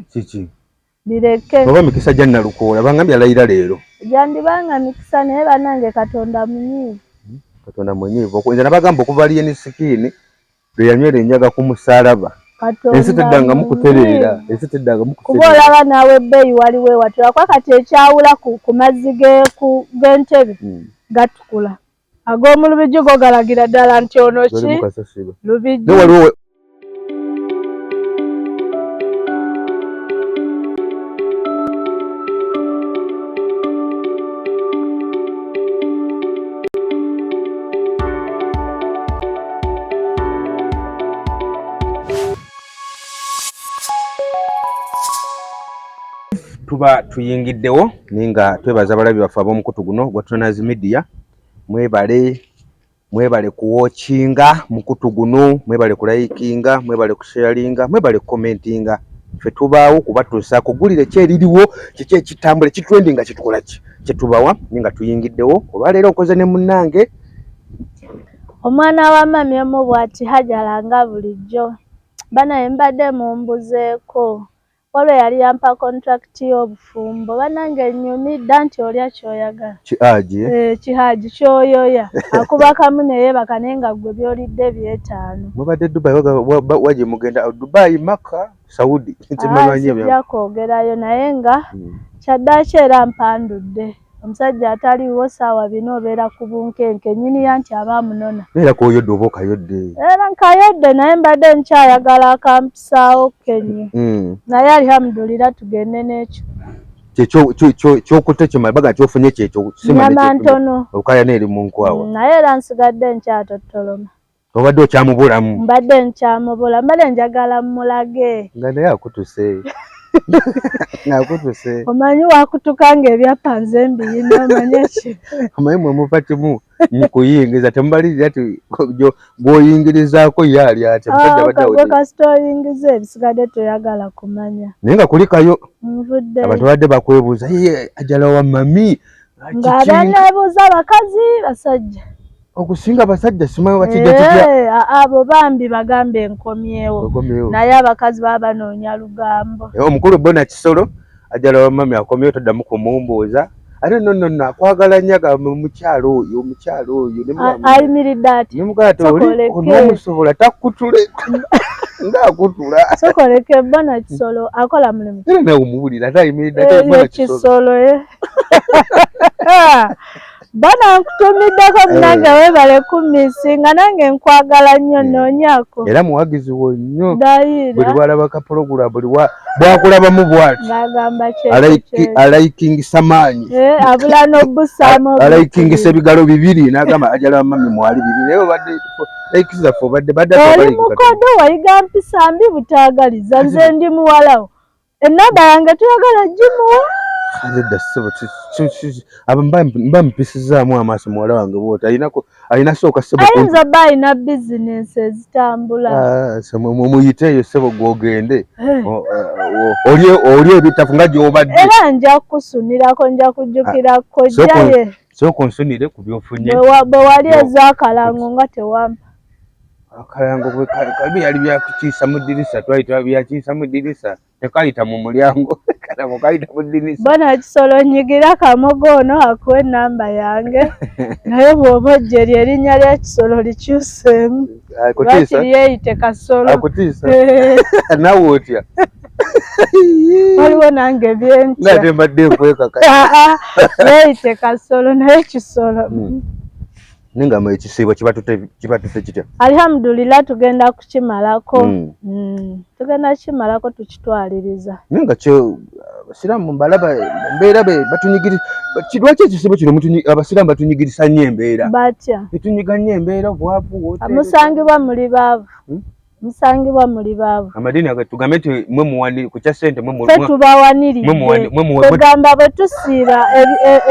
kiki bireke oba mikisa gya nalukoola bangambye alayira leero gyandibanga mikisa naye banange katonda munyiivu hmm? katonda munyiivu nze nabagamba okuva liyeni sikiini lwe yanywera enjaga ku musalaba ensi teddangamu kutereera ensi teddangamu kuba olaba naawe ebbeeyi waliwo ewatula kuba kati ekyawula ku mazzi g'entebe hmm. gatukula Ag'omu Lubigi go galagira ddala nti ono ki Lubigi. tuba tuyingiddewo ninga twebaza abalabi baffe ab'omukutu guno gwa Trainers Media mwebale mwebale kuwokinga mukutu guno mwebale kulayikinga mwebale kusharinga mwebale kukomentinga ffe tubaawo kubatuusa kugulire ki eririwo kiki ekitambula ekitrendi nga kitukola ki kyetubawa ni nga tuyingiddewo olwaleero okoze ne munnange omwana wa mami omu bwati hajala nga bulijjo banaye mbadde mumbuzeeko Wabula yali yampa contract y'obufumbo banange nyumidda nti olya kyoyagala kihaji eh, kihaji kyoyoya akuba kamu neyebaka naye nga gwe byolidde byetaano. Mubadde Dubai waje mugenda oh, Dubai Maka Saudi ah, sijja kwogerayo naye nga hmm. kyaddaki era mpandudde. omusajja ataliiwo saawa bina obeera ku bunkenke nyini ya nti aba amunona era koyodde oba okayodde era nkayodde naye mbadde nkyayagala akampisaawo kenyi hmm. naye alihamudulira tugende n'ekyo kyokutte kyemabaga nti ofunye kyekyo nyama ntono olukaya neeri mu nkwawa hmm, naye era nsigadde nkyatottoloma obadde okyamubulamu mbadde nkyamubula mbadde njagala mulage nga naye akutuse nakutuse omanyi wakutuka nga ebyapa nze mbiyina omanyi eki omanyi mwemuva kimu mukuyingiza temubalirira ti gwoyingirizaako ye ali atyagwe kasita oyingiza ebisigadde toyagala kumanya naye nga kulikayo nvudde abantu babadde bakwebuuza ye ajala wa mami ngaabanebuuza abakazi basajja okusinga abasajja simanyi bakijja kitya eh, abo bambi bagambe enkomyewo naye abakazi baba banoonya lugambo eh, omukulu bona kisolo ajala wamami akomyewo toddamu kumumbuuza ate no no no akwagala nnyo agamba omukyalo oyo omukyalo oyo ayimiridde ati nemugati oli onomusobola takutule ngakutula sokoleke bona kisolo akola mulimu era nawe omubulira ate ayimiridde ate bona kisolo eh, bana nkutumiddeko eh. munange webale kumisi nga nange nkwagala nnyo eh. noonyako era muwagizi wo nnyo buli walaba kapologula buli bwakulabamu bwati alaikingisa maanyi eh, abula nobusamu alaikingisa ebigalo bibiri nagamba ajalaba mami mwali bibiri naye obadde ekizaffe obadde badde oli mukodo wayiga mpisa mbi butagaliza nze ndi muwalawo Ennamba yange toyagala gimuwa? Nedda ssebo, mba mpisizaamu amaaso muwala wange bwoti alina sooka ssebo. Ayinza bba alina bizinensi ezitambula. Ah, mumuyite eyo ssebo gwogende eh. oh, eh, olye ebitafu nga gyobadde. Era nja kukusunirako nja kujjukira ah, kojjaye. sooka onsonere ku byofunye bwe wali eza akalango nga tewampa akalango kabi yali byakukiisa mu ddirisa twali twabyakiisa mu ddirisa tekayita mu mulyango kalango kayita mu ddirisa bona ekisolo nyigira kamogo ono akuwa enamba yange naye bwoba ojjeri erinnya ly'ekisolo likyuseemu lwaki lyeyite kasolo akutiisa nawe otya waliwo nange byentya nate mbadde nkwekaka neyite kasolo naye kisolo hmm. nengamba ekisiibo kibatute kitya alhamdulillah tugenda kukimalako hmm. Hmm. tugenda kukimalako tukitwaliriza naye nga kyo abasiraamu mbalaba embeera be batunyigiriza lwaki ekisiibo kino abasiraamu batunyigirisa nnyo embeera batya etunyiga nnyo embeera obwavu musangibwa muli baavu musangibwa muli baavu amadiini ago tugambe nti mwe muwani ku kya ssente mwe mwe tubawaniriregamba bwe tusiiba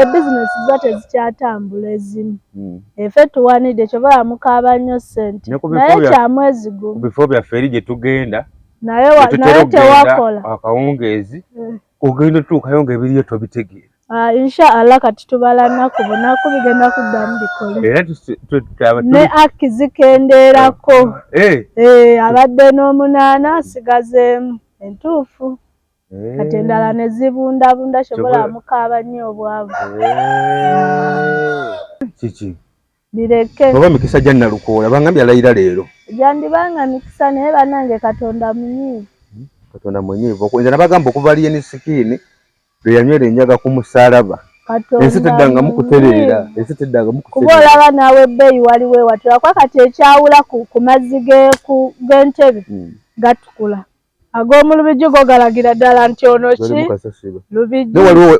ebizinesi e, e, za tezikyatambula ezimu hmm. efe tuwanidde kyobola mukaaba nnyo ssente naye kyamwezi gumu bifo byaffe eri gye tugenda naye tewakola akawungeezi eh. ogenda otuukayo nga ebiriyo tobitegeera Ah, insha Allah kati tubala naku bunaku bigenda kuddamu bikole ne aki zikendeerako eh, eh. eh, abadde n'omunaana asigazeemu entuufu kati endala ne zibundabunda kyobola amukaaba nnyo obwavu kiki bireke oba mikisa gya nalukoola bangambye alayira leero gyandibanga mikisa naye banange katonda munyiivu hmm, katonda munyiivu nze nabagamba okuva liyeni sikiini lwe yanywera enjaga ku musaalaba ensi teddangamu kutereera ensi teddangamu kuba olaba naawe ebbeeyi waliwo ewatula kuba kati ekyawula ku mazzi g'entebe hmm. gatukula ag'omulubijju go galagira ddala nti ono ki lubijju waliwo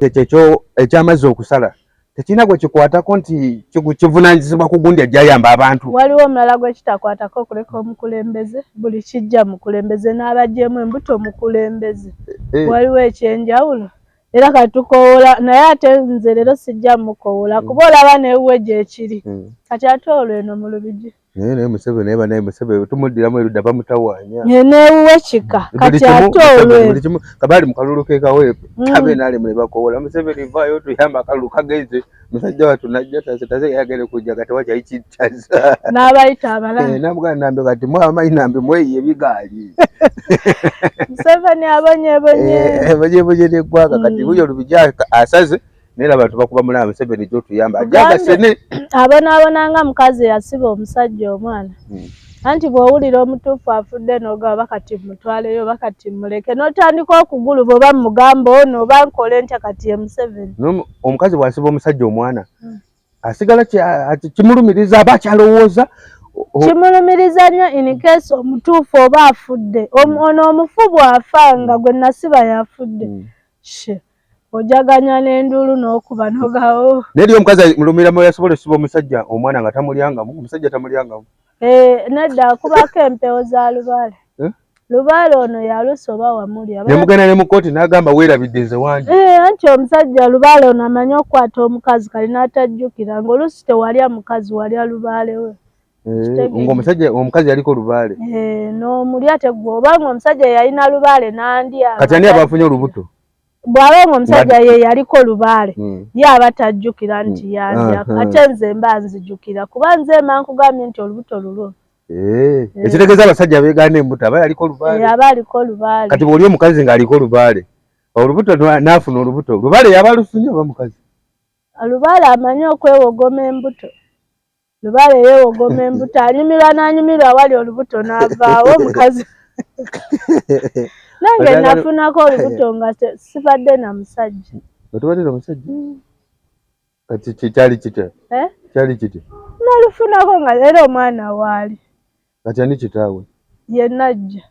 ekyamazzi okusala tekirina gwe kikwatako nti kivunanyizibwa ku gundi ajjayamba abantu waliwo omulala gwe kitakwatako okuleka omukulembeze buli kijja mukulembeze n'abagyemu embuto mukulembeze eh, eh. waliwo ekyenjawulo era katukowola naye ate nze leero sijja mukowola hmm. kuba olaba newuwe gyekiri hmm. kati ate olweno mu lubigi naye naye museveni naye banaye museveni tumuddiramu erudda bamutawanya newuwe kika mm. kati ate olwe kabali mukalulu kekaweepu mm. kabe nali mule bakowola museveni vaayo tuyamba akalulu kagenze musajja watu najja taze taze yagere kujja kati wacha ichi taze nabayita abala eh namugana nambe kati mwa amayi nambe mweye bigali museveni abonye bonye eh, eh bonye bonye ne gwaka kati mm. huyo lubijaka asaze naye laba tubakuba mulaba museveni gyotuyamba ajagasene abonaabona nga mukazi eyasiba omusajja omwana hmm. anti bw'owulira omutuufu afudde n'ogaba bakati mutwaleyo bakati muleke n'otandika okugulu bwoba mugamba ono oba nkole ntya kati ye museveni omukazi bw'asiba omusajja omwana hmm. asigala kimulumiriza aba akyalowooza kimulumiriza nnyo in case omutuufu oba afudde hmm. ono omufu bw'afa nga gwe nasiba yafudde hmm. ojaganya n'enduulu n'okuba nogawo naye eri omukazi mulumira mu yasobola esiba omusajja omwana nga tamulyangamu omusajja tamulyangamu eh, nedda akubako empewo za lubaale eh? lubaale ono yalusa oba wamulya nemugenda ne mukooti n'agamba weerabidde nze wangi eh, anti omusajja lubaale ono amanyi okukwata omukazi kali n'atajjukira ng'oluusi tewalya mukazi walya lubaale we Eh, ngaomusajja omukazi yaliko lubaale eh, nomulya tegwa oba nga omusajja yalina lubaale nandya kati ani abafunye olubuto bw'aba nga omusajja ye yaliko lubaale hmm. ye aba tajjukira hmm. nti yandya ate nze mba nzijukira kuba nze mba nkugambye nti olubuto lulwo eh, eh. ekitegeeza abasajja beegaana embuto aba yaliko lubaale eh, aba aliko lubaale kati bw'oli omukazi ng'aliko lubaale olubuto n'afuna olubuto lubaale yaba alufunye oba mukazi lubaale amanyi okwewogoma embuto Lubaale yeewogoma embuto, anyumirwa n'anyumirwa awali olubuto n'avaawo omukazi. Nange nafunako olubuto nga sibadde na musajja. Nga tubadde na musajja? Mm. Kati kyali kitya? Eh? Kyali kitya? Nalufunako nga era omwana waali. Kati ani kitaawe? Ye najja.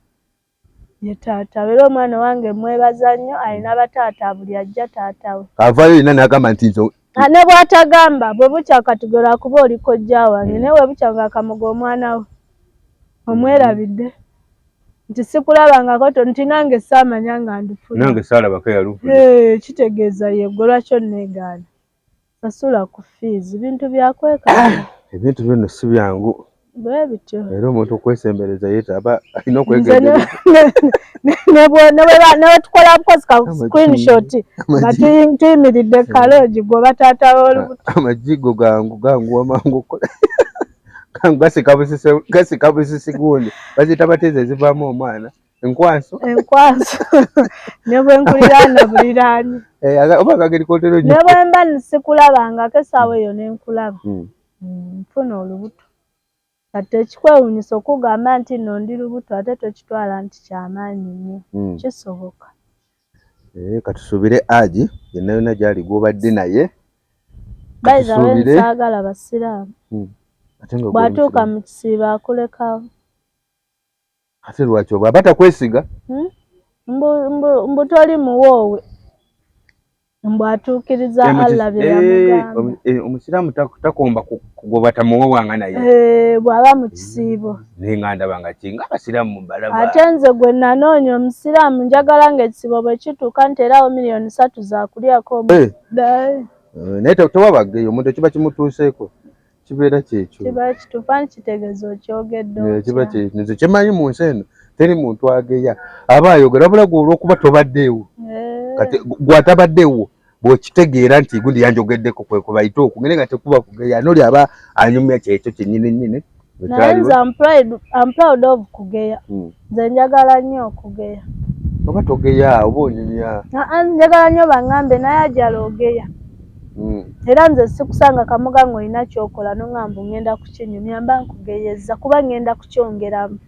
ye taata era omwana wange mwebaza nnyo alina bataata buli ajja taata we avayo yena nagamba nti nzo ah, ne bwatagamba bwe bukya katugero akuba oli kojja wange naye webukya nga kamoga omwana we omwerabidde nti sikulabangako to nti nange saamanya nga ndufuna nange saalabako yalufuna kitegeeza yegwe lwaki onneegaana sasula ku fees bintu byakweka ebintu bino si byangu bwebityo era omuntu okwesembereza yeta aba alina okwegenderezanewetukola bukozi ka screenshot nga tuyimiridde kalogi gwoba taata wolubuto amajigo gangu gangu wamangu okola gangu gasika busisi gundi bazita bateza ezivamu omwana enkwanso enkwanso ne bwe nkuliraana buliraanyi eh, oba kageri kotero nyo ne bwe mba nsikulabangako essaawa eyo ne nkulaba hmm. Hmm, nfuna olubuto kati ekikwewunyisa okugamba nti nno ndi lubuto ate tokitwala nti kyamaanyi nnyo hmm. kisoboka eh, katusuubire agi yenna yonna gyali gwobadde naye baizawensagala basiraamu bwatuuka mu kisiibo akulekawo ate lwaki oba aba takwesiga hmm? mbu toli muwoowe mbu atuukiriza allah byeyamugamba eh, eh, omusiraamu takomba kugoba tamuwowanga naye eh, bw'aba mu kisiibo naye nga ndaba nga kinga abasiraamu balaba ate nze gwe nanoonya omusiraamu njagala nga ekisiibo bwe kituuka nti erawo miliyoni satu zakulyako naye tewabaggeyo omuntu ekiba kimutuuseeko kibeera kyekyo kiba kituufu ani kitegeeza okyogedde eh, kiba kyenze kyemanyi mu nsi eno teri muntu ageya aba ayogera wabula gwe olwokuba tobaddeewo eh. kati gwatabaddeewo bwekitegeera nti gundi yanjogeddeko kwekubayite oku ngene nga tekuba kugeya noli aba anyumya kyekyo kyenyini nyini naye nze am proud of kugeya hmm. nze njagala nnyo okugeya oba togeya oba onyumya njagala nnyo bangambe naye ajala ogeya mm. era nze sikusanga kamoga ng'olina kyokola nongamba ngenda kukinyumya mba nkugeyezza kuba ngenda kukyongeramu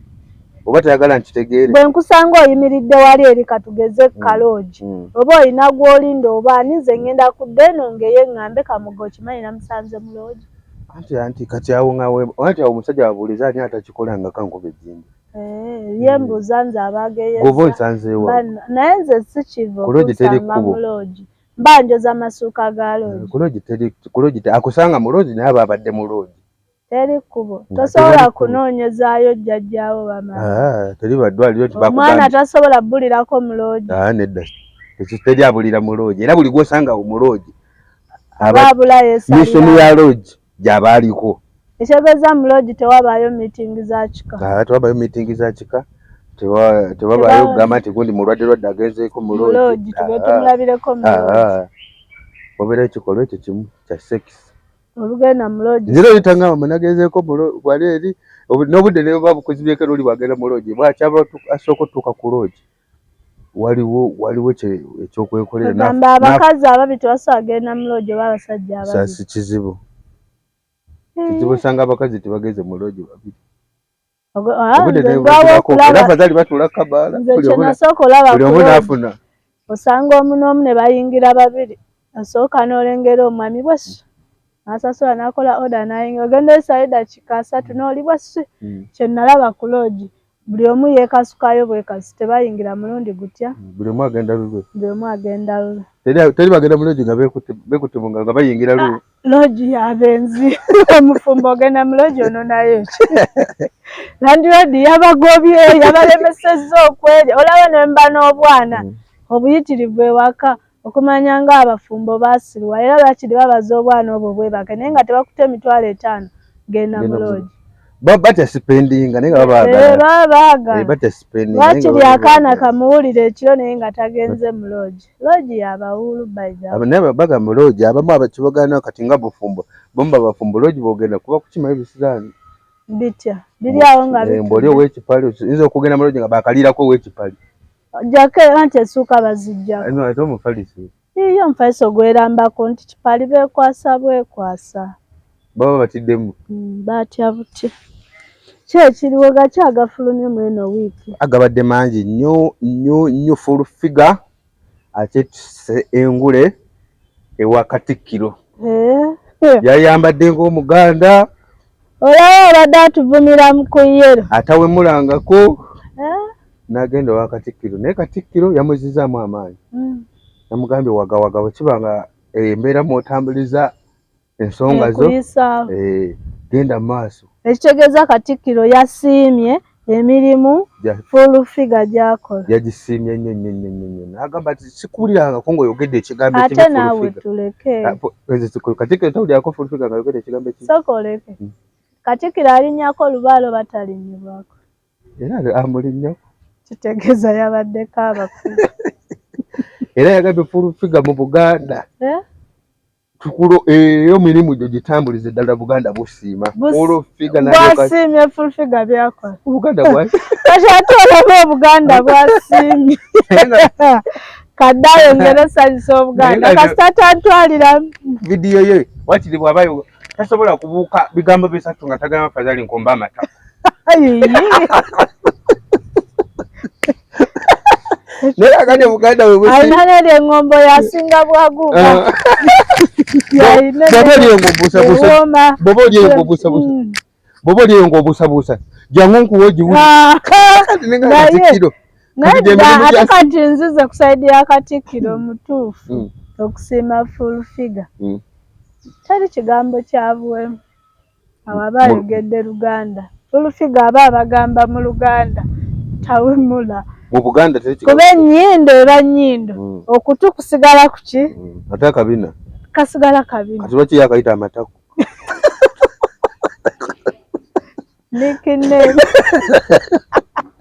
oba tayagala nkitegeere bwe nkusanga oyimiridde wali eri katugeze mm. kaloogi mm. oba olina gw'olinda oba ani nze ngenda kudda eno ngeye ng'ambe kamoga okimanyi namusanze mu loogi anti anti kati awo nga anti awo omusajja wabuuliza ani atakikola nga kankuba ejjinja eh, ye mbuuza nze abageyeza oba onsanzeewa naye nze sikiva okusanga mu loogi mba njoza masuuka ga eh, loogi ku loogi teri ku loogi akusanga mu loogi naye aba abadde mu loogi teri kkubo tosobola kunoonyezaayo jjajjaawo bamaomwana ah, tasobola bulirako mu loogi ah, nedda ekyo teri abulira mu loogi era buli gwosanga mu loogi aba abulayo esamiso ya loogi gyaba aliko ekyogeza mu lodi tewabaayo meeting za kika ah, tewabaayo meeting za kika tewabaayo kugamba nti gundi mulwadde lwadde agenzeeko mu lodi tumulabireko mu lodi ah, ah, obeera ekikolwa ekyo kimu kya sex olugenda mu lodi nzira oyitangamba munagenzeeko wali eri n'obudde nebuba bukuzibyeko noli bwagenda mu lodi bwakyaba asooka otuuka ku lodi waliwo waliwo ekyokwekoleragamba abakazi ababi tebasobola agenda muloogi oba abasajja abasi kizibu eh. kizibu osanga abakazi tebageze muloogi babiri obuddeafazali ah, batula kabaala buli omu nafuna osanga omu n'omu ne bayingira babiri Nasooka n'olengera omwami bwessi n'asasula n'akola oda n'ayingira ogenda oyisaayo eddakiika asatu n'oli bwessi hmm. kye nalaba ku loogi buli omu yeekasukayo bwekasi tebayingira mulundi gutya hmm, buli omu agenda lulwe buli omu agenda lulwe teri bagenda mu loogi nga beekutte mu ngalo nga bayingira lu ah, loogi y'abenzi omufumbo ogenda mu loogi ono nayo ki landiroodi yabagobye yabalemesezza okwerya olaba ne mba n'obwana hmm. obuyitirivu ewaka okumanya nga abafumbo basiruwa era lwakiri babaza obwana obwo bwebake naye nga tebakuta emitwalo etaano genda muloogi lwakiri eh, akaana kamuwulira ekiro naye nga tagenze muloogi loogi yabawuulu baga muloogi abamu abakibagana kati nga bufumbo bomu babafumbo loogi bogenda kuba kukimayo ebisiraani bitya biri awo nga eh, mboli owekipali nza okugenda muloogi nga bakalirako owekipali Ojjako era nti essuuka bazijjako. No, ate omufaliso. Iye omufaliso gwerambako nti kipali bekwasa bwekwasa. Baba batiddemu. Mm, batya butya. Ki ekiriwo gaki agafulumye mu eno wiiki? Agabadde mangi nnyo nnyo nnyo full figure ate tuse engule ewa Katikkiro. Eh, eh. Yayambadde ng'Omuganda. olaba abadde atuvumira mu ku yero atawemulangako eh? nagenda owa katikkiro naye katikkiro yamuzizaamu amaanyi hmm. namugambye wagawaga bwekiba nga eh, embeera mwotambuliza ensonga zo eh, genda mu maaso ekitegeeza katikkiro yasiimye emirimu Full Figure gy'akola yagisiimye nnyo nnyo nnyo nnyo nnyo n'agamba nti sikuwulirangako ng'oyogedde ekigambo ekimu ate naawe tuleke ah, Katikkiro tawulirako Full Figure nga yogedde ekigambo ekimu sooka oleke hmm. Katikkiro alinnyako olubaalo batalinnyibwako era amulinnyo kitegeeza yabaddeko abakulu era yagambye Full Figure mu Buganda eh? tukulo eyo eh, mirimu gyo gitambulize ddala buganda busiima olwofigabwasiimye fulfiga byakola obuganda bwakati ate olaba obuganda bwasiimye kadde ayongere osanyusa obuganda kasita tantwalira vidiyo ye wakiri bwabayo tasobola kubuuka bigambo bisatu nga tagama fazali nkomba amata naye akati muganda wealina neri engombo yasinga bwaguuka ah. baba olyeyo ngaobusabusa mm. baba olyeyo ngaobusabusa jangu nkuwa ogiwuli ah. ate kati nzize ku saidi ya katikkiro mm. mutuufu mm. okusiima full figure teri kigambo kyabuwemu Awo aba ayogedde Luganda. Full figure aba abagamba mu Luganda tawemula. Mu Buganda teri kigambo. Kuba ennyindo eba nnyindo. Mm. Okutu kusigala ku ki? Mm. Ate akabina? Kasigala kabina. Kati lwaki yakayita amatako? Nickname.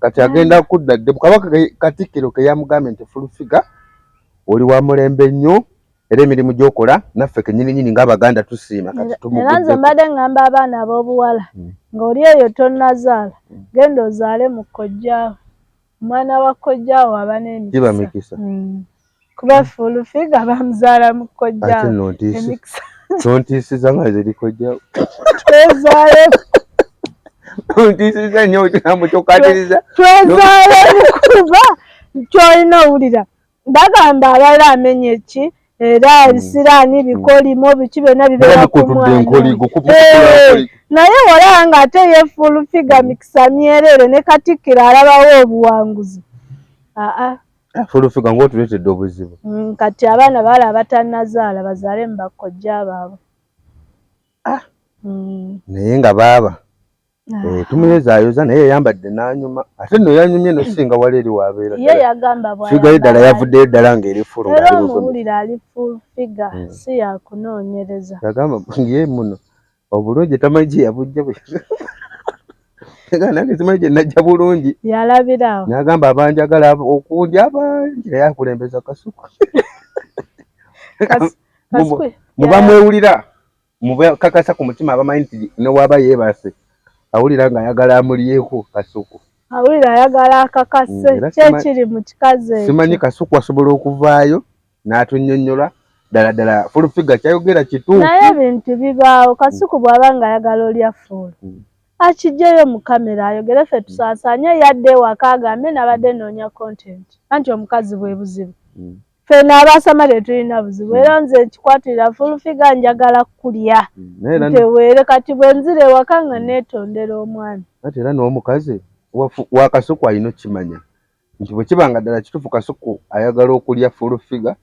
kati agenda mm. kudda dde kabaka katikkiro ke yamugambye nti fulufiga oli wa mulembe nnyo era emirimu gyokola naffe kenyininyini ngaabaganda tusiima katiera nze mbadde ngamba abaana ab'obuwala mm. ng'oli eyo tonazaala mm. genda ozaale mu kojjaawo omwana wa kojjaawo aba n'emikisa kuba hmm. full figure bamuzaala mu kojja emikisa tontiisiza nga ziri kojja twezaale tontiisiza nnyo ekigambo kyokatiriza twezaale mukuba kyolina owulira bagamba abalala amenya eki era hmm. ebisiraani hmm. bikolimo biki byonna bibeera ku mwana eh, naye walaba nga ate ye full figure mikisa myereere ne katikkiro alabawo obuwanguzi aa ah, ah. Eh, fulufiga ngaotuletedde obuzibu mm, kati abaana baala abatanazaala bazaale mu bakkojja baabwe ah. mm. naye nga baaba ah. eh, tumuyozaayoza naye yayambadde nanyuma ate no yanyumye nosinga wali eri wabeerafigayo ddala yavuddeyo ddala ngaeri fuluomuwulira ali fulfiga mm. si yakunoonyereza yagamba ye muno obulungi tamanyi gye yabujja bwe nange simanyi gye najja bulungi yalabirawo nagamba abanjagala okundi abangi naye akulembeza kasuku muba mwewulira mubakakasa ku mutima abamanyi nti newaba yeebase awulira ng'ayagala amulyeko kasuku awulira ayagala akakase mm, kyekiri mu kikazi simanyi kasuku asobola okuvaayo n'atunnyonnyola ddala ddala full figure kyayogera kituufu naye ebintu bibaawo kasuku bw'aba nga ayagala olya full hmm. akijjeyo mu kamera ayogere ffe tusaasaanye yadde ewaka agambe nabadde noonya content anti omukazi bwe buzibu hmm. ffe n'abaasama tetulina buzibu hmm. era nze nkikwatirira full figure njagala kulya nteweere kati bwe nzira ewaka nga neetondera omwana ate era n'omukazi wakasuku alina okukimanya nti bwe kiba nga ddala kituufu kasuku ayagala okulya full figure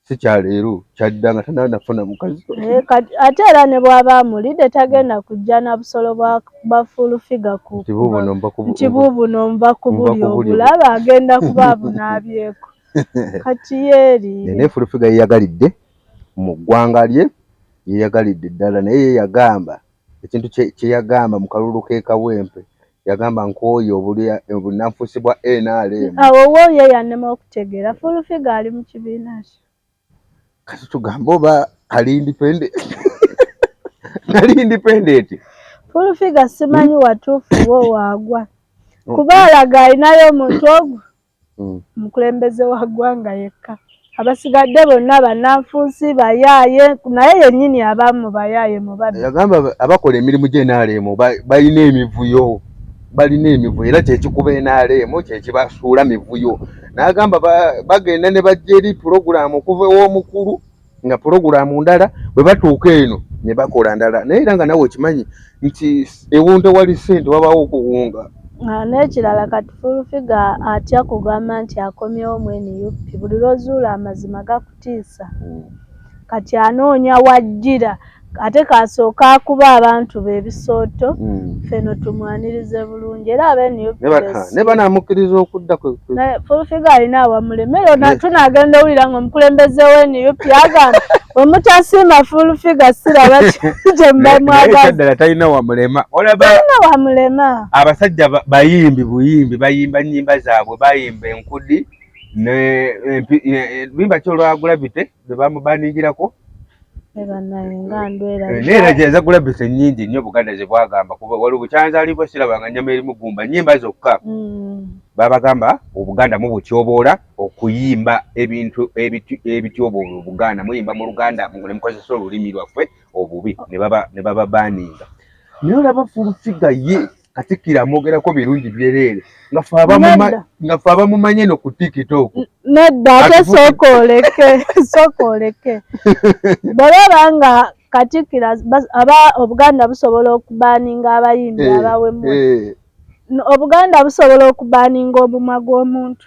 si kya leero kyadda nga tanaba nafuna mukazi eh, ate era ne bw'aba amulidde tagenda kujja na busolo bwa full figure ku nti buubuno nva ku buli obulaba agenda kuba abunaabyeko kati yeeriire naye full figure yeyagalidde mu ggwanga lye yeyagalidde ddala naye yeyagamba ekintu kyeyagamba mu kalulu k'ekawempe yagamba nkooye obunanfusi bwa nrm awo wo ye yanema okutegeera fulufiga ali mu kibiina ki kati tugambe oba ali independent nali independent fulufiga simanyi watuufu wo waagwa kuba alaga alinayo omuntu ogwo mm. omukulembeze wa ggwanga yekka abasigadde bonna bananfuusi bayaaye naye yennyini abamu bayaaye mubagamba abakola emirimu gye nrm balina emivuyo balina emivuyo era kyekikuba nrm kyekibasuula mivuyo nagamba bagenda ne bajja eri pulogulaamu okuva ew'omukulu nga pulogulaamu ndala bwe batuuka eno ne bakola ndala naye era nga nawe okimanyi nti ewunta wali ssente wabaawo okuwunga ah, n'ekirala kati fulufiga atya kugamba nti akomyewo mu nup buli lwozuula amazima gakutiisa hmm. kati anoonya wajjira ate kasooka akuba abantu be ebisooto hmm. ffe no tumwanirize bulungi era abenewne banamukkiriza okudda fulfiga alina awamulemere tunagenda owulira nga omukulembeze we nup agamba wemutasiima fulfiga siraba kyemubamwagaddala talina wamulema olabaalina wamulema abasajja bayimbi buyimbi bayimba nyimba zaabwe bayimba enkudi bimba kyolwagulabite lwe bamubaningirako neera gyenza kulabisa ennyingi nnyo buganda ze bwagamba kuba wali bukyanzaalibwa sirabanga nnyama erimu gumba nnyimba zokka mm. babagamba obuganda mubutyoboola okuyimba ebintu ebityoboola obuganda muyimba mu luganda ne mukozesa olulimi lwaffe obubi ne baba baaninga naye olaba fulufiga ye katikkiro amwogerako birungi byereere nga fe abamumanye no ku tiktok nedda ate sooka oleke sooka oleke bwebaba nga katikkiro aba obuganda busobola okubaninga abayimbi eh, abawemwe eh. obuganda busobola okubaninga obumwa gw'omuntu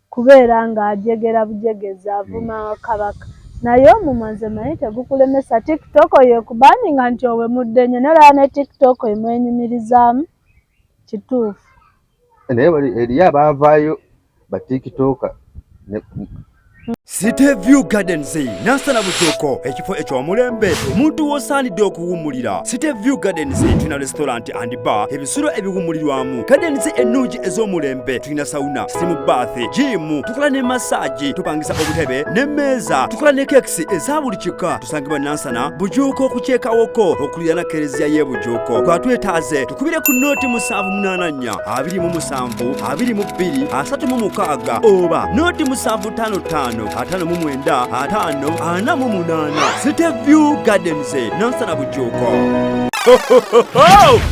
Kubeera nga ajegera bujegezi avuma kabaka naye omumwa nze manyi tegukulemesa tiktok oyo ekubaninga nti owemudde nyo naye olaba ne tiktok emwenyumirizaamu kituufu. Naye eriyo abaavaayo ba tiktoker ne. City View Gardens nansana butuuko ekifo eky'omulembe omuntu w'osaanidde okuwummulira City View Gardens tulina restaurant and bar ebisulo ebiwummulirwamu gardens ennungi ez'omulembe tulina sauna simu bath jiimu tukola ne masaagi tupangisa obutebe n'emmeeza tukola ne kekisi eza buli kika tusangibwa nansana bujuuko okukyekawoko okulira na kereziya y'e bujuuko kwatwetaaze tukubire ku nooti musanvu munaana nnya abiri mu musanvu abiri mu bbiri asatu mu mukaaga oba nooti musanvu tano tano atano mu mwenda atano ana mu munaana City View Gardens nansana bujuuko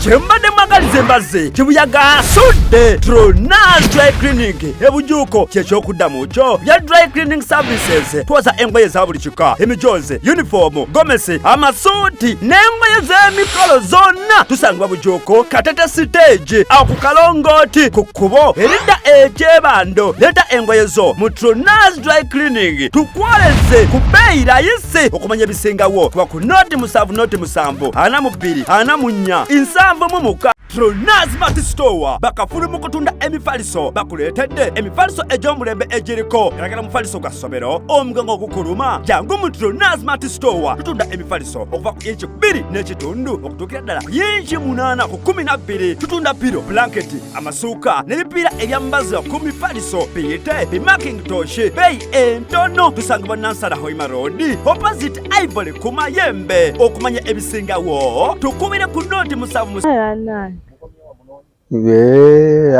kyembadde mwagaliza embazze kibuyaga asudde tronas dry clinic ebujuuko kyekyokuddamu kyo bya dry cleaning services twoza engoye za buli emikka emijoozi yunifoomu gomesi amasuuti n'engoye z'emikolo zonna tusangibwa bujuuko katete siteegi aku kalongooti ku kkubo eridda ekyebando leeta engoye zo mu trunas dry cleaning tukwoleze ku bbeeyi layisi okumanya ebisingawo kuba ku nooti musanvu nooti musanvu ana mu bbiri ana mu nnya nsanvu mu muka Pronaz Mart Store bakafulu mu kutunda emifaliso bakuleetedde emifaliso egy'omulembe egiriko galagala mufaliso gwa ssomero omugongo ogukuluma jangu mu Pronaz Mart Store tutunda emifaliso okuva ku inchi bbiri n'ekitundu okutuukira ddala ku inchi munaana ku kumi na bbiri tutunda piro blanketi amasuuka n'ebipiira ebyambaza ku mifaliso biyite bimaking toshi beeyi entono tusangibwa nansala hoima road opposite Ivory ku mayembe okumanya ebisingawo tukubire ku nooti musanvu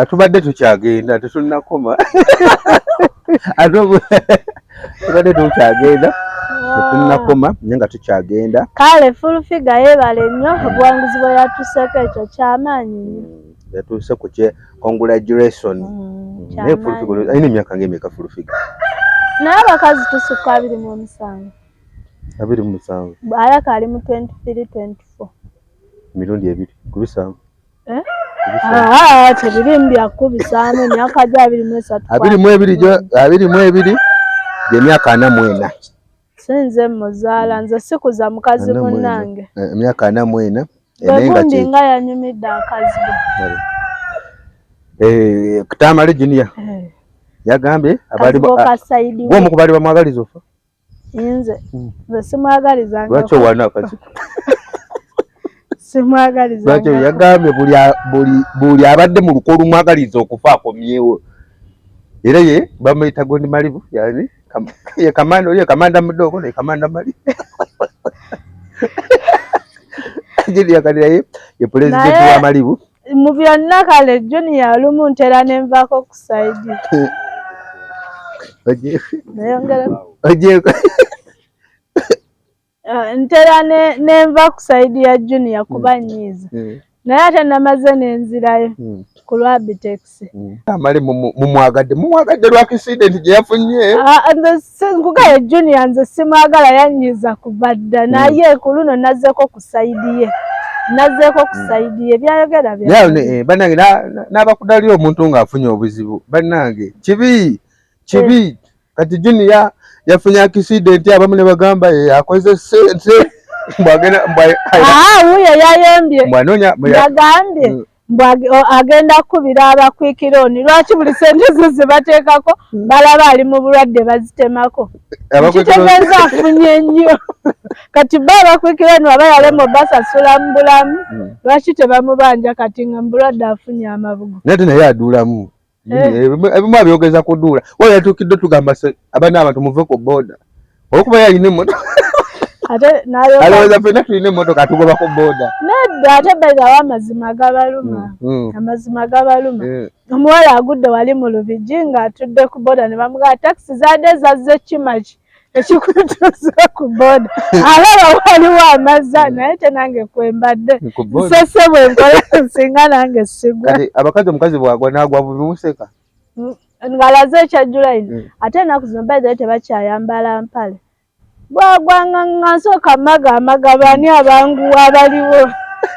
atubadde tukyagenda tetunakoma tubadde tukyagenda tetunakoma naye nga tukyagenda kale fulfiga yebale nnyo obuwanguzi bwe yatuseeko ekyo kyamaanyi nnyo yatuuse ku congratulations mm, naye full figure alina emyaka ng'emeka full figure naye abakazi tusukka abiri mu omusanvu abiri mu musanvu alaka ali mu 23 24 emirundi ebiri kubisanvu eh? ah, tebirimu byakubisaamu emyaka gyo abiri mu esatu abiri mu ebiri gyemyaka ana mu ena sinze muzaala nze sikuza mukazi munange eh, emyaka ana mu ena egundi nga yanyumidde akazi eh, ktamale junia eh. yagambye abaomu kubali bamwagaliza ofa nze hmm. nze simwagaliza lwaki owana akazi simwagaliza lwaki yagambye buli abadde mu luko olumwagaliza okufa akomyewo era ye bamuyita gondi malibu yani Kam, ye kamanda oyo kamanda mudogo ne kamanda mali jili yakalira ye ye president wa malibu mu byonna kale junior lumu ntera nenvako ku side oje oje ah, ntera nenva ku saidi ya junior kuba mm. nyiiza mm. naye ate namaze nenzirayo mm. ku lwa bitekisi amale mumwagadde mumwagadde lwa kisidenti gye yafunye ah, nkugaye junior nze simwagala yanyiiza kuva dda naye ku luno nazeeko ku saidi ye nazeeko ku hmm. saidi ye byayogera eh, banange n'abakudaliyo omuntu ng'afunye obuzibu banange kibi kibi eh. kati junior yafunye accident abamu ne bagamba ye akoze sente mbwagenda mbwaye ah wuyo yayombye mbwanonya yagambye mm. agenda kukubira abakwikira oni lwaki buli sente zo zebateekako hmm. balaba ali mu bulwadde bazitemako kitegeeza afunye nnyo kati ba abakwikira oni waba yalema basasula mu bulamu hmm. lwaki tebamubanja kati nga mubulwadde afunye amabugo nate naye aduulamu Eh. ebimu abyogeza kuduula waba yatuukidde tugamba abana abantu muve ku boda olwokuba yalina emotoka alowooza fena tulina emotoka atugoba ku boda nedda ate baigawo amazima gabaluma mm, mm. amazima gabaluma eh. omuwala agudde wali mu lubigi ng'atudde ku boda ne bamugaa takisi zaadde zazze kimaki ekikutuusa ku boda alaba waliwo amazza hmm. naye te nange kwembadde nsese bwenkola nsinga nange sigwa abakazi omukazi bwagwa nagwa bumuseka hmm. ngalaze ekya july hmm. ate enaku zino bae tebakyayambala mpale bwagwanga nga nsooka maga amagabani abanguwa abaliwo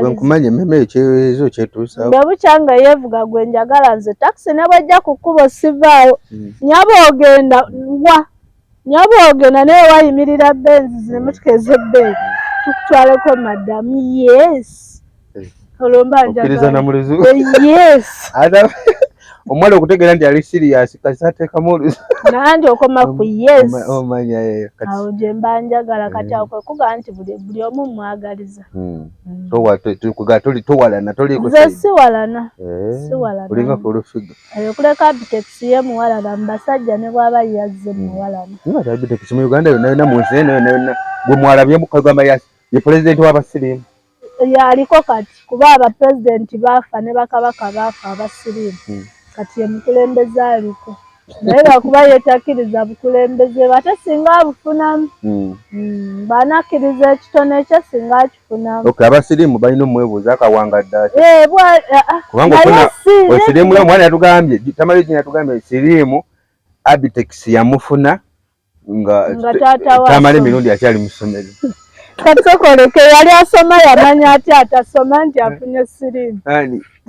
bwenkumanya ememe ekyezo kyetuusa bwe bukya nga yeevuga gwe njagala nze takisi ne bwejja ku kkubo sivaawo hmm. nyaba ogenda wa nyaba ogenda naye wayimirira benzi zinemutuka ezebbeeyi tukutwaleko madamu yes eh. olwo mba njagala yes omuwala okutegeera nti ali siriyasi kasatekamu nanti okoma ku yesomanya eyo awo gyemba njagala eh. kati akwe kuga nti buli omu mwagaliza hmm. hmm. towalana tolikuze siwalana eh. siwalana olinga kulufiga eyo kuleka bitekisi ye muwalana mubasajja ne bwaba yazze hmm. muwalana nga ta bitekisi mu uganda yona yona mu nsi eno yona yona gwe mwalabyemu kagamba ye pulezidenti w'abasirimu yaliko kati kuba aba president baafa ne bakabaka baafa abasiriimu hmm. kati ye mukulembeze aliko naye lwakuba yetakiriza bukulembeze bwe ate singa abufunamu hmm. hmm, banakkiriza ekitone kye singa akifunamu abasiriimu balina omwebuuza akawanga ddakiwesiriimu eh, eh, ah, ah. omwana yatugambye tamale gina yatugambye siriimu abitex yamufuna nga tamale mirundi akyali mu ssomero katukoleke yali asoma yamanya ati atasoma nti afunye sirimu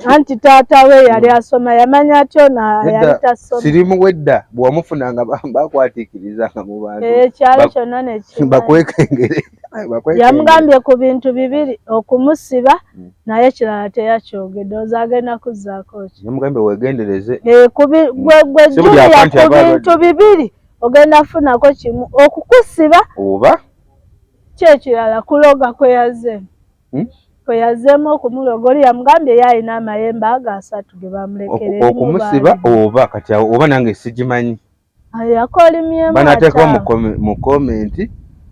anti taata we yali asoma yamanya atyo nayali tasoma sirimu wedda bwewamufuna nga bakwatikiriza nga mu bantu eh, ekyalo kyonna nekibakwekengere yamugambye ku bintu bibiri okumusiba hmm. naye kirala teyakyogedde oza agenda kuzzaako ki yamugambye wegendereze eh, gwejjuya ku bintu bibiri ogenda funako kimu okukusiba oba kyekirala kuloga kweyazeemu hmm? kweyazeemu okumuloga oli yamugambye ye alina amayembe ago asatu ge bamulekereokumusiba oba kati awo oba nange sigimanyi yakolimyemubanatekawo mu komenti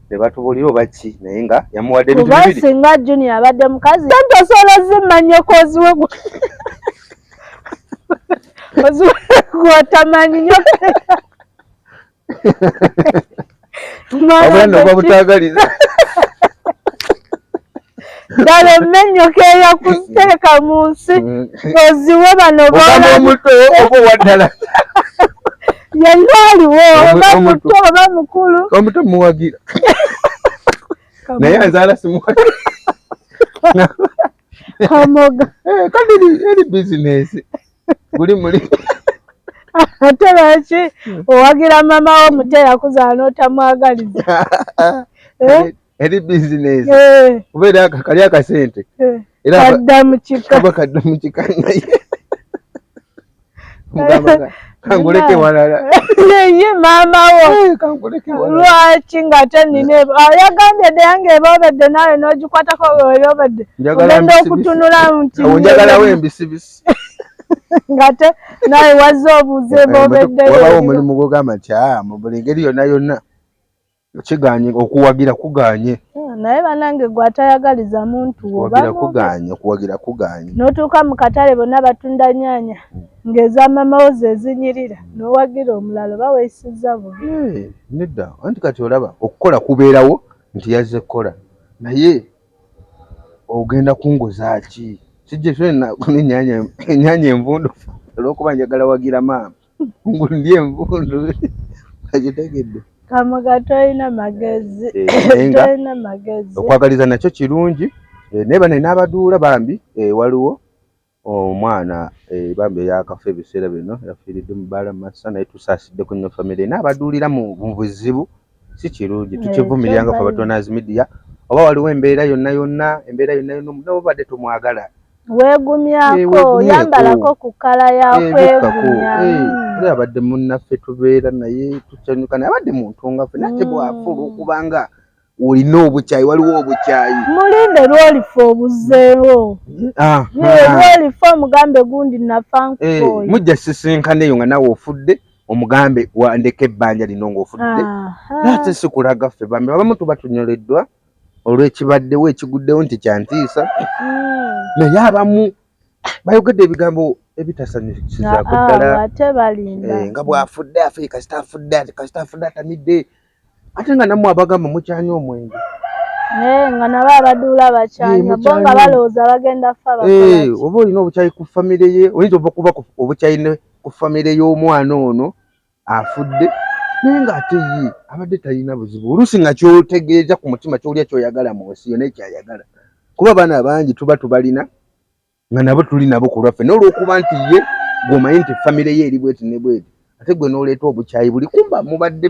nebatubulira oba ki naye nga yamuwadde singa juni abadde mukazi osobola zimanya okoziwe watamanyi nyo omwana butagaliza ddala emmennyuka eyakutereka mu nsi mm. oziwe bano boomutwe oba owaddala yenna aliwo oba muto oba mukulu omuto muwagira naye azaala simuwagira kamoga eh, kandi eri bizinesi guli muli ate lwaki owagira mama wo muto eyakuzaala n'otamwagaliza eh? eri bizinesi eh. kuba era kali akasente kadda mukika kadda mukika naye kanguleke walala naye maama wo eh, lwaki ng'ate nina yagambye dde yange eba obedde naawe n'ogikwatako weweri obedde ogenda okutunula nti njagalawo embisibisi ng'ate naawe wazze obuuze eba obeddewabawo omulimu gwogamba nti ah, mu buli ngeri yonna yonna kiganye okuwagira kuganye hmm, naye banange gwe atayagaliza muntu wobagira kuganye okuwagira kuganye notuuka mu katale bonna batunda nyanya hmm. ng'eza mamawo zezinyirira hmm. nowagira omulala oba weyisiza bubi eh, nedda anti kati olaba okukola kubeerawo nti yazze kukola naye ogenda kunguza ki kijja kyona enyanya envundufu olwokuba njagala wagira maama ngundye envundu akitegedde kamoga tolina magezi eh, tolina magezi okwagaliza nakyo kirungi eh, naye bane n'abaduula bambi eh, waliwo omwana bambi eyakafa ebiseera bino yafiiridde mu baala masa naye tusaasidde ku nyo famire n'abaduulira mu buzibu si kirungi tukivumirira nga fabatonaz media oba waliwo embeera yonna yonna embeera yonna yonna omunawe obadde tomwagala wegumyako eh, yambalako ku kala yakwegumya eh, eh, hmm. abadde munnaffe tubeera naye tukyanyuka naye abadde muntu ngaffe nate hmm. bwafulu okubanga olina obukyayi waliwo obukyayi mulinde lwolifa obuzeewo ah, ah. lwolifa omugambe gundi nafankukoyo mujja sisinkana eyo nga nawe ofudde omugambe wandeka ebbanja lino ng'ofudde ate sikulaga ffe bambi abamu tuba tunyoleddwa olw'ekibaddewo ekiguddewo nti kyantiisa hmm. naye abamu bayogedde ebigambo ebitasanyusizaako ddala ah, ah, eh, nga bw'afudde afe kasita afudde kasita afudde atamidde ate nga namwe abagamba mukyanya omwenge eh, nga nabo abaduula bakyanya eh, bo nga balowooza bagenda fa eh, oba olina obukyayi ku famire ye oyinza ova kuba obukyayi ne ku famire y'omwana ono afudde naye ng'ate ye abadde talina buzibu oluusi nga kyotegeeza ku mutima kyolya kyoyagala mu nsi yo naye kyayagala kuba abaana bangi tuba tubalina nga nabo tuli nabo ku lwaffe naye olwokuba nti ye gwomanyi nti famire ye eri bweti ne bweti ate gwe noleeta obukyayi buli kumba mubadde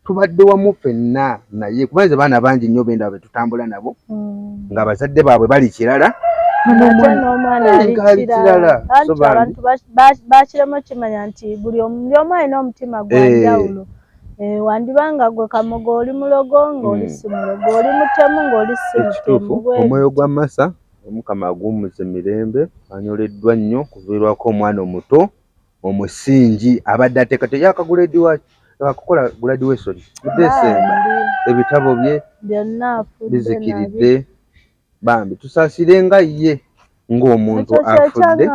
tubadde wamu fenna naye kuba nze baana bangi nnyo bendaba betutambula nabo mm. nga abazadde baabwe bali kirala bakiremu okimanya nti buli omu alina omutima gwanjawulo eh. Eh, wandiba nga gwe kamogo oli mulogo ngaoli hmm. simulogo oli mutemu ngaoli simutemu omwoyo gwa masa Omukama aguwummuze mirembe, anyoleddwa nnyo kuviirwako omwana omuto omusingi abadde ateekate yakaguledi waki akukola graduation mu December ebitabo bye bizikiridde bambi tusaasire nga ye ng'omuntu afudde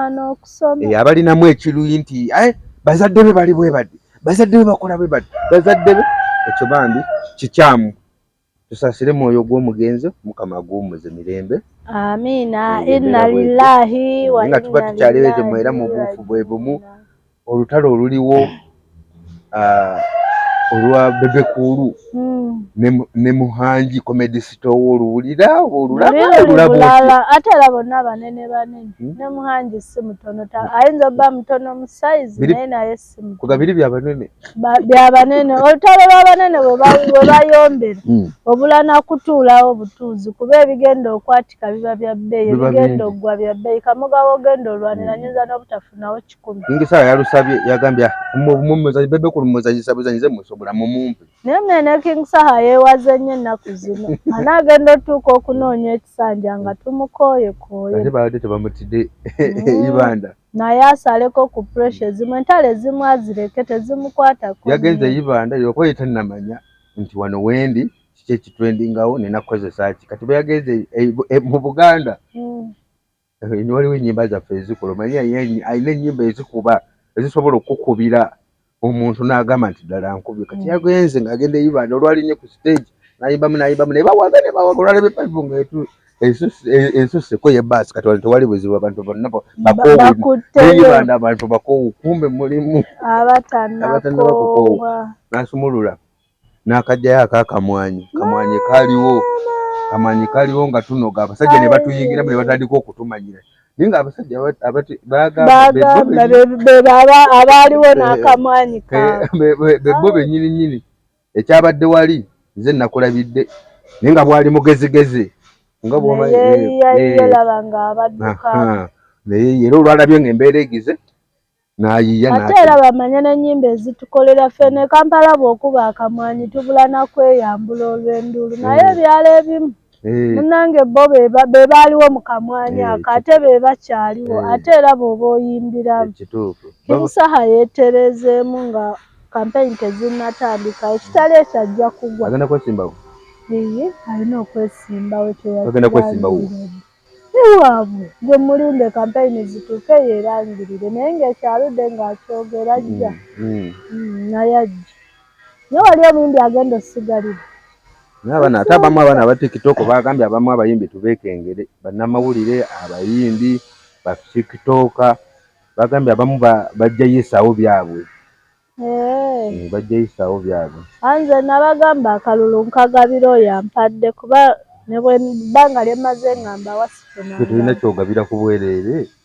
eh, abalinamu ekiruyi nti eh, bazadde be bali bwe bati bazadde be bakola bwe bati bazadde be ekyo bambi kikyamu Tusasire mwoyo gw'omugenzi mukama aguwumuze mirembe. Amiina inna lillahi wa inna tuba tukyaleweze mwera mu buufu bwe bumu olutalo oluliwo ah, olwa bebe kuulu hmm. ne muhanji comedy sito wo oluwulira olulabulabulabula ate era bonna banene banene hmm? ne muhanji si mutono ayinza obba mutono mu size naye naye kugabiri bya banene bya banene olutalo lwa banene we bayombera hmm. obula na kutuulawo butuuzi kuba ebigenda okwatika biba bya bbeeyi ebigenda okugwa bya bbeeyi kamoga wogenda olwanira hmm. nyinza n'obutafunawo kikumi ngisala yalusabye yagambye ah, mumuzanyi bebe ku lumuzanyisa buzanyize musobola mumumpe naye mwene king saha yeewaze nnyo ennaku zino ana agenda otuuka okunoonya ekisanja nga tumukooyekooye ate baadde tebamutidde hmm. ibanda naye asaleko ku pressure ezimu entalo ezimu azireke tezimukwatako yagenze yibanda yoko yetanamanya nti wano wendi kiki ekitrendingawo nina kukozesa ki kati beyagenze eh, eh, mu buganda mm. eh, waliwo enyimba zaffe ezikola omanyi alina enyimba ezikuba ezisobola okukubira omuntu n'agamba nti ddala nkubye kati mm. yagenze ng'agenda eyibanda olwalinye ku stage nayimbamu nayimbamu naye bawaga ne bawaga olwalaba epayipu nga etu ensuseko ye baasi kati wano tewali buzibu abantu bonna bakoowueyibanda abantu bakoowu kumbe mulimu abatanakoowa nasumulula n'akajjayo ako akamwanyi kamwanyi kaliwo kamwanyi kaliwo nga tunoga abasajja ne batuyingiramu ne batandika okutumanyira naye nga abasajja bagamba abaaliwo n'akamwanyi bebbo bennyini nnyini ekyabadde wali nze nakulabidde naye nga bwali mugezigezi nga bwomalaba nga abadduka naye era olwalabye nga embeera egize nayiya ate era bamanye n'ennyimba ezitukolera ffe ne kampala bw'okuba akamwanyi tubula na kweyambula olw'enduulu eh. naye ebyalo ebimu eh. munange bo be baaliwo mu kamwanyi eh, ako ate be bakyaliwo ate era bw'oba oyimbiramu kimusaha yeetereezeemu nga kampeyini tezinnatandika ekitali ekyo ajja kugwa agenda kwesimbawo iye alina okwesimbawo kyeyaagenda kwesimbawo Si waabwe, gwe mulinde kampeyini zituuke yeerangirire naye ng'ekyo aludde ng'akyogera. Ajja naye ajja. Naye wali omuyimbi agenda ossigalira. Naye abaana ate abamu abaana aba tiktok baagambye abamu abayimbi tubeekengere, bannamawulire, abayimbi, batiktoka baagambye abamu bajja yisaawo byabwe. Eh, bajja yisaawo byabwe anze nabagamba akalulu nkagabira oyo ampadde kuba nebwe banga lyemaze ngamba wasifuna tetulina kyogabira ku bwereere